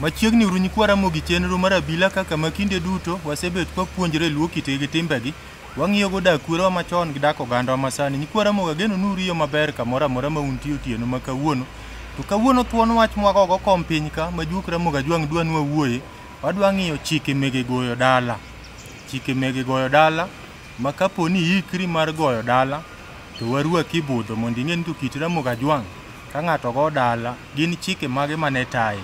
Machiegni uru nyikwa Ramogi chenro mar abila kaka ma kinde duto wasebet kwapuonjre luo kitgi gi timbegi. Wang'iyogo dak kwerewa machon gi dak ogandawa masani. Nyikwa Ramogi ageno ni uriyo maber kamoro amora ma untie otieno ma kawuono. To kawuono thuon wach mwagogo kom piny ka ma juok Ramogi Ajwang' dwa ni wawuoye. Wadwa ng'iyo chike mege goyo dala. Chike mege goyo dala ma kapo ni iikri mar goyo dala to warwaki budho mondo ing'e ni to kit Ramogi Ajwang' ka ng'ato go dala gin chike mage mane taye.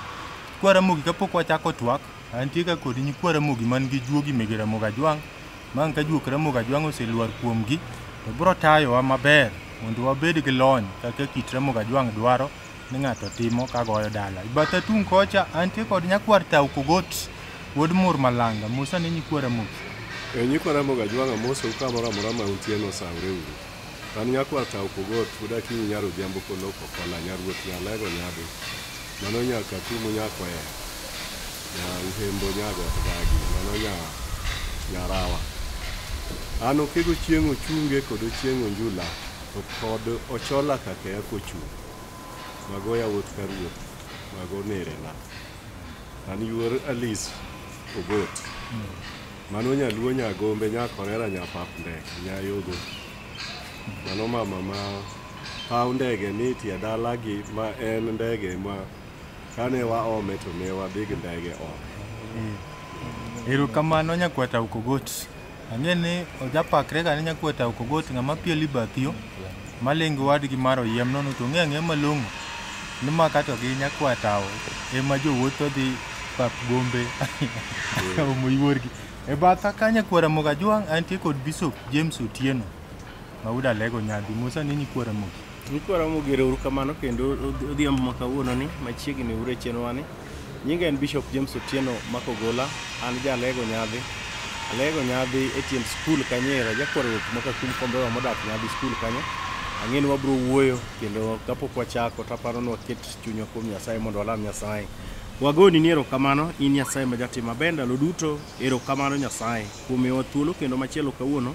Nyikwa Ramogi kapok wachako twak, antie ka kod nyikwa Ramogi man gi juogi mege Ramogi Ajwang' ma ang' ka juok Ramogi Ajwang' oselwar kuomgi to biro tayowa maber mondo wabed gi lony kaka kit Ramogi Ajwang' dwaro ni ng'ato timo ka goyo dala. Bathe tung' kocha antie kod nyakwar Tau Kogot wuod Mur Malanga Musa ni nyikwara Muki. E nyikwa Ramogi Ajwang' amosou kamoro amora ma untie ni osawre uru. An nyakwar Tau Kogot wuod Akinyi nyar Odhiambo Koloko Kola nyar Ruoth Nyalego Nyado mano nya Katumo nya Kwea nya Uhembo nya Got Gagi mano nya Nyarawa. An Okego Chieng' Ochunge kod Ochieng' Onjula to kod Ochola Kakea Kochung'. Mago yawuot ka ruoth, mago nerena. An yuor Alice Ogot. Mano nyaluo nyagombe nyakorera nyapap ndek nyayogo. Mano mama ma paw ndege ni tie dalagi ma en ndege ma kane waome to ne wadhi gi ndege oko. Erokamano nyakwata Ukogot. Ang'e ni ojapakre ka ne nyakweta ok ogot ng'ama piel ibathiyo malingo wadgi mar oyiem nono to ng'e ang'e malong'o ni ma kato gi nyakwatawo ema jowuotho dhi pap gombe omo yuorgi e batha ka nyakwara mogajwang' antie kod bishop james otieno Mauda lego nyadhi Musa ni nyikwara mogi. Nyikwara mogi uru kamano kendo odhiambo ma kawuono ni machiegni ure chenwa ni. Nyinga en Bishop James Otieno Makogola, an ja lego nyadhi. Alego nyadhi e tiend skul kanyera jakwara ruoth maka kum kombewa modak nyadhi skul kanyo. Ang'e ni wabro wuoyo kendo kapok wachako taparo ni waket chunywa kuom Nyasaye mondo walam Nyasaye. Wagoni ni erokamano in Nyasaye ma jatim maber ndalo duto. Erokamano Nyasaye kuom miyowa thuolo kendo machielo kawuono.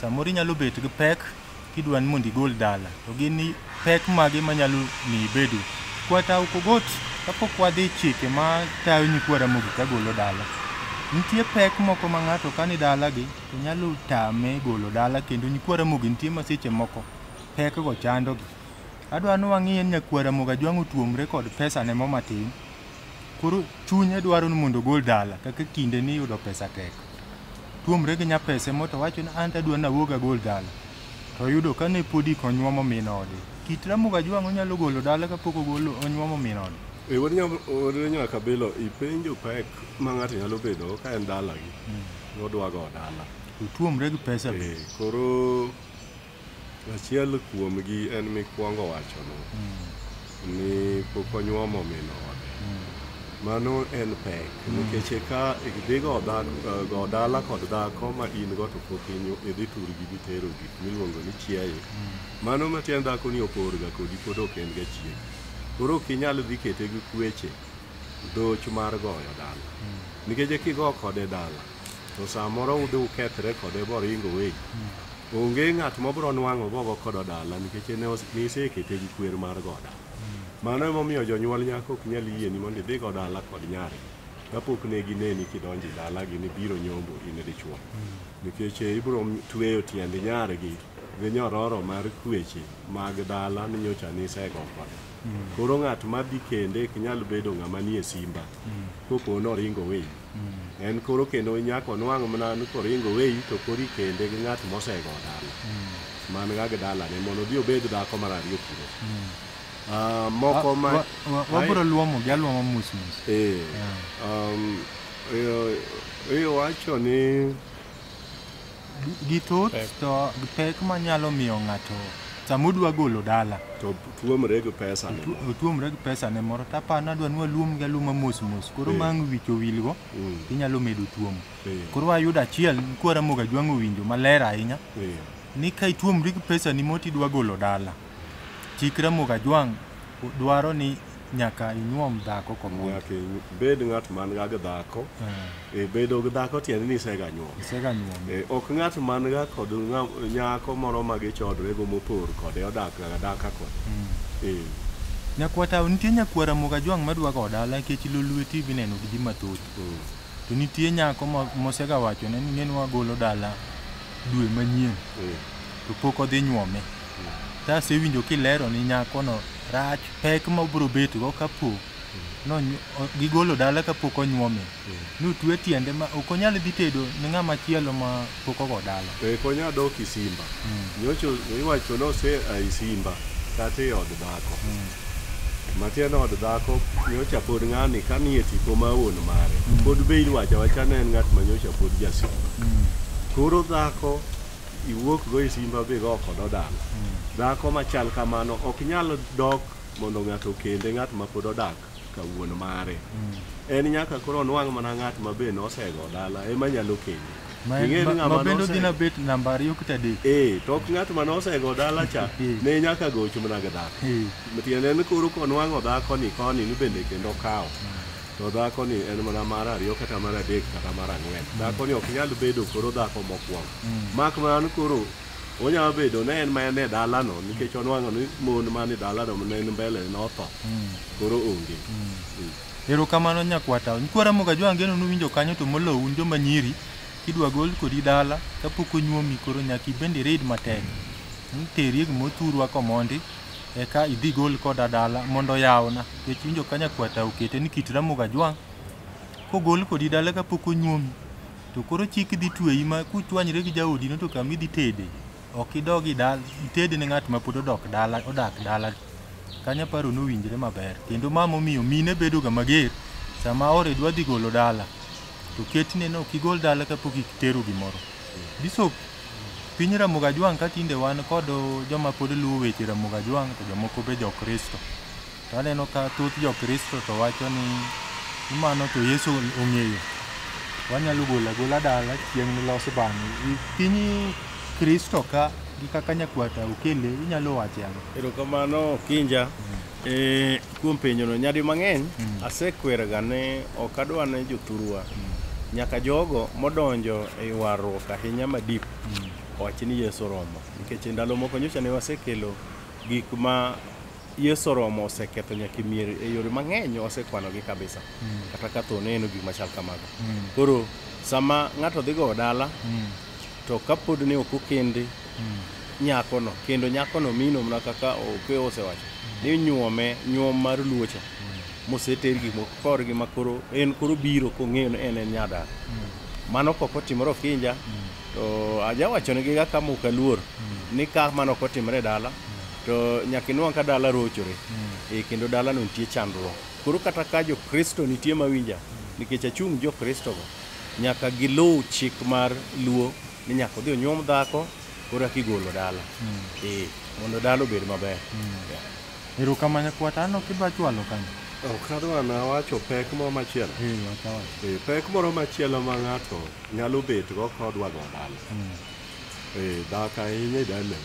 Samoro inyalo bet gi pek kidwa ni mondo igol dala, to gin ni pek mage manyalo miyo ibedo. Kwata ok ogot kapok wadhi chike ma tayo nyikwa Ramogi ka golo dala. Nitie pek moko ma ng'ato ka ni dalagi to nyalo tame golo dala kendo nyikwa Ramogi nitie ma seche moko pekgo chandogi. Adwa ni wang'i en nyakwa Ramogi Ajwang' otuomre kod pesane mo matin, Koro chunye dwaro ni mondo ogol dala kaka kinde ni yudo pesa tek. Tuomre gi nyapese moto wacho ni an tadwa nawuog agol dala. To yudo ka ne podi konyuomo min ode. Kit Ramoga Jwang' onyalo golo dala kapok ogolo onyuomo min ode. E wuod nyaka kabilo ipenjo pek ma ng'ato nyalo bedo ka en dalagi. Odwa go dala. Otuomre gi pesa be. Koro Achiel kuomgi en mikwongo wachono ni pok onyuomo min ode. Mano en pek nikech eka idhigo dhako- go dala kod dhako ma in go to pok inyu- idhi turgi gitero gik miluongo ni chiaye. Mano matiend dhako ni oporga kodi pod ok en ga chiegi. Koro ok inyal dhi kete gi kweche dhoch mar goyo dala. Nikech kigo kode dala to samoro udhi ukethre kode boringo weyi onge ng'at mobro nwang'o gogo kodo dala nikech ne os- nisekete gi kwer mar goda mano emomiyo jonyuol nyako ok nyal yieni mondo idhi go dala kod nyari kapok ne gineni kidonjo e dalagi ni biro nyombo in dichwo nikech eh, ibro tweyo tiend nyargi gi nyororo mar kweche mag dala ni nyocha nisego kode koro ng'at madhi kende ok nyal bedo ng'ama nie simba kopo noringo weyi mm. en koro kendo nyako nwang' mana ni koringo weyi to kori kende gi ng'at mosego dala mm. man ga gi dalane mondo odhi obed dhako mar ariyo kuro mm. ah, moko ma wabro luomo gi aluoma mos mos ee eh. um, iwacho ni Githoth Pek. to pek manyalo miyo ng'ato sama udwa golo dala to tuomre gi pesa ne tu- otuomre gi pesa ne moro tapano adwa ni waluom gi aluma mos mos koro Eh. mang wich owilgo Mm. inyalo medo tuom Eh. koro ayudo achiel kwara moga jwang'o winjo maler ahinya Eh, ni ka ituomri gi pesa ni moti idwa golo dala chikra moga jwang' dwaro ni nyaka inyuom dhako komon nyaka ibed ng'at man ga gi dhako eh. e bedo gi dhako tiende ni isega nyuom isega nyuom e, ok ng'at man ga kod nyako moro ma gichodre go mopor kode odak ga daka kod mm. e nyakwa tawo nitie nyakwara moga jwang madwa go dala nikech lolue tv neno gi ji mathoth mm. to nitie nyako mosega wacho ne ni neno wagolo dala dwe manyien e. to pok odhi nyuome to asewinjo kilero ni nyakono rach pek ma obiro betgo kapo nony- o- gigolo dala kapok onyuome notwe tiende ma ok onyal dhi tedo ni ng'ama chielo ma pok ogo dala to ikonya dok isimba nyocho iwacho nose a isimba kata e od dhako matiende od dhako nyocha pod ng'ani ka nie tipo ma wuon mare pod be iwacho awacha ne en ng'at ma nyocha pod jasimba koro dhako iwuok go e simba be go kod odang dhako machal kamano ok nyal dok mondo ng'ato kende ng'at ma pod odak ka wuon mare en nyaka koro onwang' mana ng'at ma be nosego dala ema nyalo kende Ma en- Ing'e ni ma- ng'ama ma bende nose- odhi na bet namba ariyo kata adek ee to ok ng'at ma nosego dala cha Eh. ne nyaka goch mana gi dhako Eh, tiende ni koro konwang'o dhako ni koni ni bende kendo kawo to dhako ni en mana mar ariyo kata mar adek kata mar ang'wen dhako ni ok nyal bedo koro dhako mokwongo Mak mana ni koro onyalo bedo ne en ma en e dalano nikech onwang'o ni mon man e dalano ne en mbele notho koro onge. Mm. Erokamano nyakwata. Nkwara Mogajwa angeno nuwinjo kanyo to molo un joma nyiri kidwa gol kodi dala kapok onyuomi koro nyaka ibende read matek. Mm, Teri e gima othurwa komondi eka idhi gol koda dala mondo oyawna. Nikech winjo ka nyakwata okete ni kit Ramogi Ajwang' kogol kodi dala kapok onyuomi To koro chik dhi tweyi ma kuchwanyre gi jaodi no to kama idhi tede ok idog i dala itede ne ng'at ma pod odok dala odak dala kanyo aparo nowinjre maber kendo ma momiyo mine bedoga mager sama ore dwa dhi golo dala to ketne no kigol dala kapok itero gimoro bishop piny Ramogi Ajwang' ka tinde wan kod joma pod luwo weche Ramogi Ajwang' to jomoko be jo Kristo. To aneno ka thoth jokristo to wacho ni mano to Yesu ong'eyo. Wanyalo golo agola dala chieng' nilos bang'e. I piny Kristo ka gi kaka nyakwata okele inyalo wache ang'o? Erokamano Kinja. Eh, kuom penjono nyadi mang'eny asekwerega ni ok adwa ni jothurwa nyaka jogo modonjo e ywaruok ahinya ma deep owach ni Yesu oromo nikech e ndalo moko nyocha ne wasekelo gik ma Yesu oromo oseketho nyaka mier e yore mang'eny osekwanogi kabisa mm. kata ka tho neno gik machal kamago mm. koro sama ng'ato dhi gowo dala mm. to kapod ne ok okende mm. nyakono kendo nyakono mino mana kaka ope osewacho mm. ni nyuome nyuom mar luocha mm. moseter gik moko korgi ma koro en koro biro kong'eyo ni en en nyadala mm. mano kok otimore okinja mm. to ajawachonegi ga kamuka luor mm. ni ka mano ok otimore e dala mm. to nyaka inwang' ka dala rochore e kendo dalano nitie chandruok koro kata ka jokristo nitie mawinja nikech achung' jokristogo nyaka giluw chik mar luo ni nyaka odhi onyuom dhako koro eka igolo dala ee mondo dala obed maber Yeah. Erokamanya kwata anno kidwa chwalo kanyo. Ok adwa na wacho pek moro machielo. Eh wacha wacha. Eh, Pek moro machielo ma ng'ato nyalo bet go kodwa go dala. Eh, dak ahinya idalem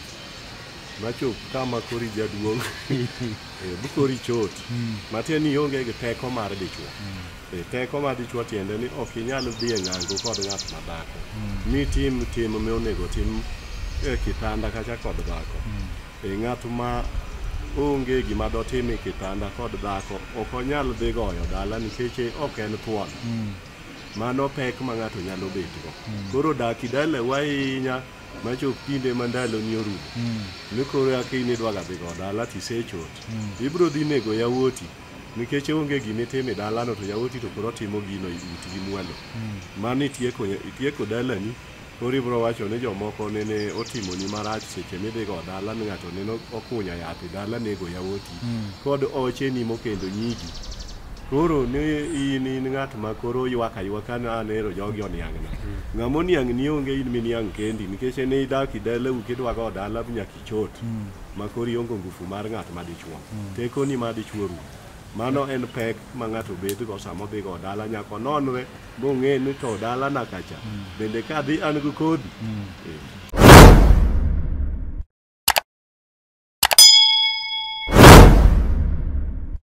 machop kama kori jaduong eh, bukori chot hmm. matiende ni ionge gi teko mar dichwo hmm. eh, teko mar dichwo tiende ni ok inyal dhi e ng'ango kod ng'at ma dhako hmm. mi tim tim ma onego tim e kitanda kacha kod dhako e ng'at ma onge gima dotim e kitanda kod dhako ok onyal dhi goyo dala nikech ok en thuon mano pek ma ng'ato nyalo betgo mm. koro dak idalewa ahinya machop kinde ma ndaloni orumo mm. ni koro aka in idwaga dhi go dala tisechot mm. ibiro dhi nego yawuoti nikech onge gima itime dalano to yawuoti to koro timo gino utgi mwalo mano itieko dalani Koro ibiro wacho ni jomoko nene otimoni marach seche midhigo dala ni ng'ato nene okunya yath e dala nego yawoti kod ocheni mokendo nyigi. Koro ni in in ng'at ma koro ywak aywaka ni an ero jogi oniang'na. Ng'ama oniang'ni onge in miniang' kendi nikech en idak e dalau kidwago dala nyaka ichot ma koro ionge ngufu mar ng'at ma dichwo. Tekoni ma dichwo rumo. Mano en pek ma ng'ato bedgo sama odhigo dala nyaka ononre mong'e ni to dalana kacha bende kadhi an gi kodhi Eh.